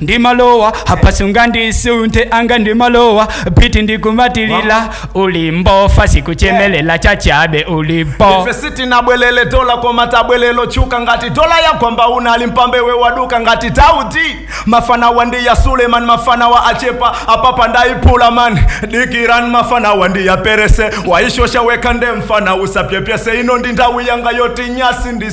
ndimalowa apa sungandisunthe anga ndimalowa biti ndikumatilila ulimbo fansi kuchemelela chachabe ulimbo ife sitinabwelele dola koma tabwelela chuka ngati dola yagwamba unali mphambe wewe waduka ngati tauti mafanawa ndi a Suleman mafanawa achepa apapa ndayiphula man dikirani mafanawa ndi aperese waishosha wekha nde mfana usapepese ino ndi nthawi yanga yoti nyasi ndi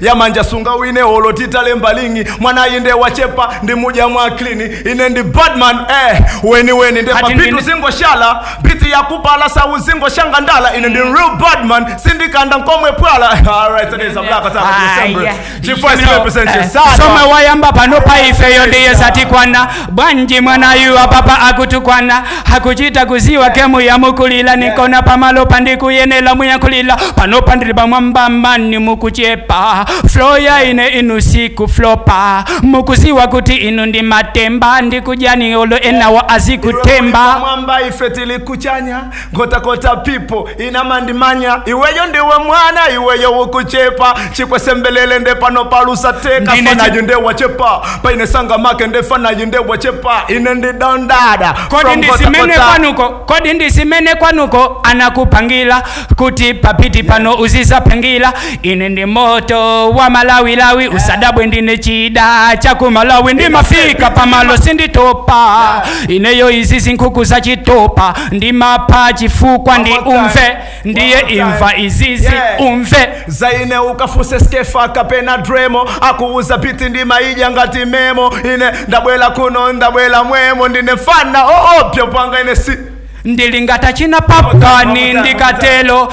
ya manja sungawine olo titalemba lingi mwanayu nde wachepa ndimudya mwa klini ine ndi badman eh, weni weni nde Ati pabiti ndine- zingoshala biti yakupala sauzingoshanga ndala ine ndi real badman sindikanda nkomwe pwala alright it is a black attack of December Aya. chifukwa You know, represent eh, your side zomwe wayamba panopa ifeyo ndiye satikwana bwanji mwanayu apapa akutukwana akuchita kuziwa gemu yamukulila nikona pamalo pandikuyenela muyankhulila panopa ndili pamwamba mani mukuchepa flo ya ine inu zikuflopa mukuziwa kuti inu ndi matemba ndikujani olo enawa azikutemba mwamba ife tili kuchanya nkhotakota pipo imandimanya iweyo ndiwe mwana iweyo ukuchepa chikwesembelele nde pano palusa teka Ndine chi- fanayu nde wachepa paine sangameke nde fanayu nde wachepa ine ndi don dada kodi From ndi zimene Nkhotakota. kwanuko kodi ndi zimene kwanuko anakupangila kuti pabiti pano uzizapangila ine ndi moto wa malawilawi usadabwe ndine chida cha ku Malawi ndimafika pamalo sinditopa ineyo izi zinkhuku za chitopa ndimapha chifukwa ndi One more time. umve ndiye One more time. imva izizi Yeah. umve za ine ukafuse Skefa kapena Dremo akuuza biti ndimaidya ngati memo ine ndabwela kuno ndabwela mwemo ndine fana oopya panga ine sindilinga za china pankhani ndikatelo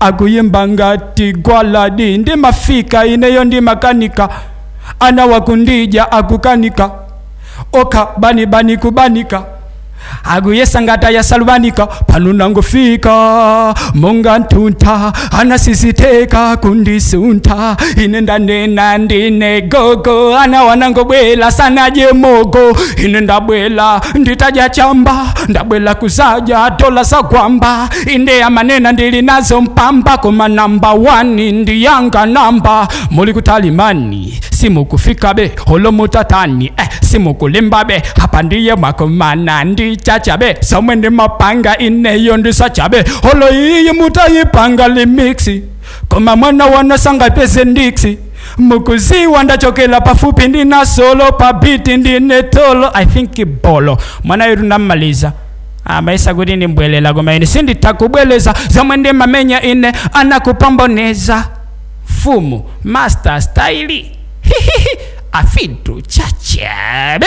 akuyimba ngati Gwaladi ndimafika ineyo ndimakanika anawa kundidya akukanika okha bani bani kubanika akuyesa ngati a Lucius Banda pano nangofika monga ntuntha ana sizitheka kundisuntha ine ndanena ndine gogo anawa angobwela sanadye mogo ine ndabwela nditadya chamba ndabwela kuzadya dola za Gwamba inde amanena ndili nazo mpamba koma namba 1 ndi yanga namba muli kutali mani simukufikabe olo mutatani eh, simukulimbabe apa ndiye mwakumana ndi Chachabe zomwe ndimapanga ineyo ndi zachabe olo iyi mutayipanga remix koma mwanawa sangapeze ndiksi mukuziwa ndachokela pafupi ndi Nasolo pabiti ndine tolo i think bolo mwana yetu namaliza amayesa kuti ndimbwelera koma ine sinditha kubweleza zomwe ndimamenya ine anakupamboneza mfumu master style afitu chachabe